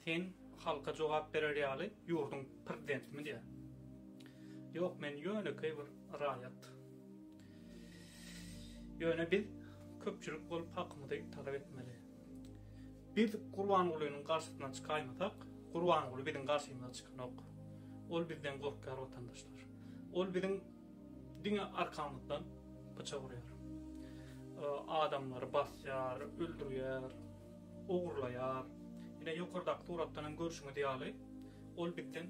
Sen halka jogap berer ýaly ýurduň prezidentimi diýä. Ýok men ýönekeý bir raýat. Ýöne biz köpçülik bolup hakymyzy talap etmeli. Biz Gurbangulynyň garşysyna çykaýmasak Gurbanguly biziň garşymyza çykanok. Ol bizden gorkýar watandaşlar. Ol biziň diňe arkamyzdan pyçak urýar. Adamlary basýar, öldürýär. ogurlaýar. Ine, ýokardaky suratdan hem görşüňiz ýaly, ol bizden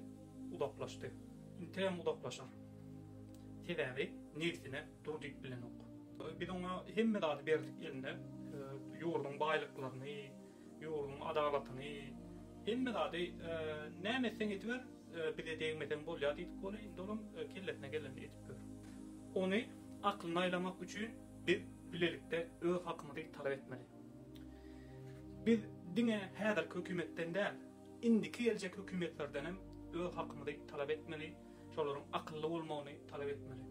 uzaklaşdy. Inteýem uzaklaşar. Sebäbi nebsine dur diýip bilenok. Biz oňa hemme zady berdik eline, ýurduň baýlyklaryny, ýurduň adalatyny, hemme zady näme etseň ediber, bize degmeseň bolýar diýdik ony, indi olam kellesine gelenini edip ýör. Ony aklyny aýlamak üçin biz bilelikde öz hakymyzy talap etmeli. Biz diňe häzirki hökümetden däl, indiki geljek hökümetlerden hem öz hakymyzy talap etmeli, şolaryň akylly bolmagyny talap etmeli.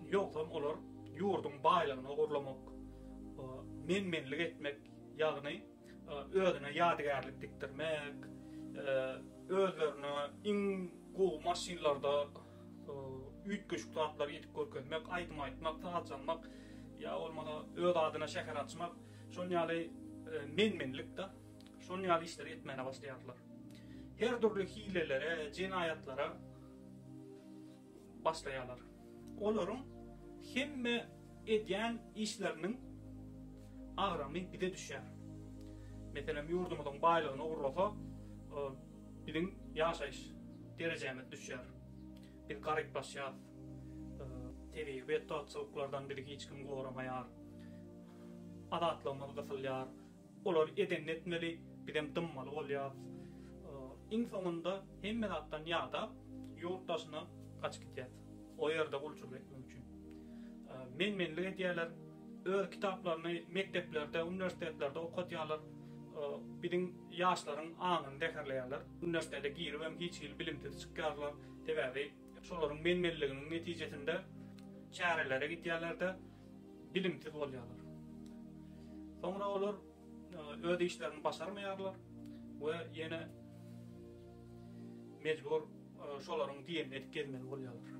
Ýogsam olar ýurduň baýlygyny ogurlamak, men-menlik etmek, ýagny özüne ýadygärlik dikdirmek, özlerine iň gowy maşynlarda üýtgeşik zatlary edip görkezmek, aýdym aýtmak, saz çalmak ýa bolmasa öz adyna şäher açmak, şol ýaly men-menlikde şol ýaly işleri etmäne başlaýarlar. Her dürli hilelere, jenaýatlara başlaýarlar. Olaryň hemme Edýän işleriniň agramy bize düşýär. Meselem, ýurdumyzyň baýlygyny ogurlasa, biziň ýaşaýyş derejämiz düşýär. Biz garyplaşýarys. Tebigy betbagtçylyklardan bizi hiç kim goramaýar. Azatlygymyz gysylýar. Olar edenini etmeli, bizem dymmaly bolýarys. Iň soňunda hemme zatdan ýadap, ýurt daşyna gaçyp gidýäs. O ýerde gulçulyk etmek üçin. Men-menlik edýärler. Öz kitaplaryny mekdeplerde, uniwersitetlerde okadýarlar. Biziň ýaşlaryň aňyny zäherleýärler. Uniwersitete giribem hiç hili bilimsiz çykýarlar. Sebäbi şolaryň men-menliginiň netijesinde çärelere gidýärler-de, bilimsiz bolýarlar. Soňra olar e, öz işlerini başarmaýarlar we ýene mejbur e, şolaryň diýenini edip gezmeli bolýarlar.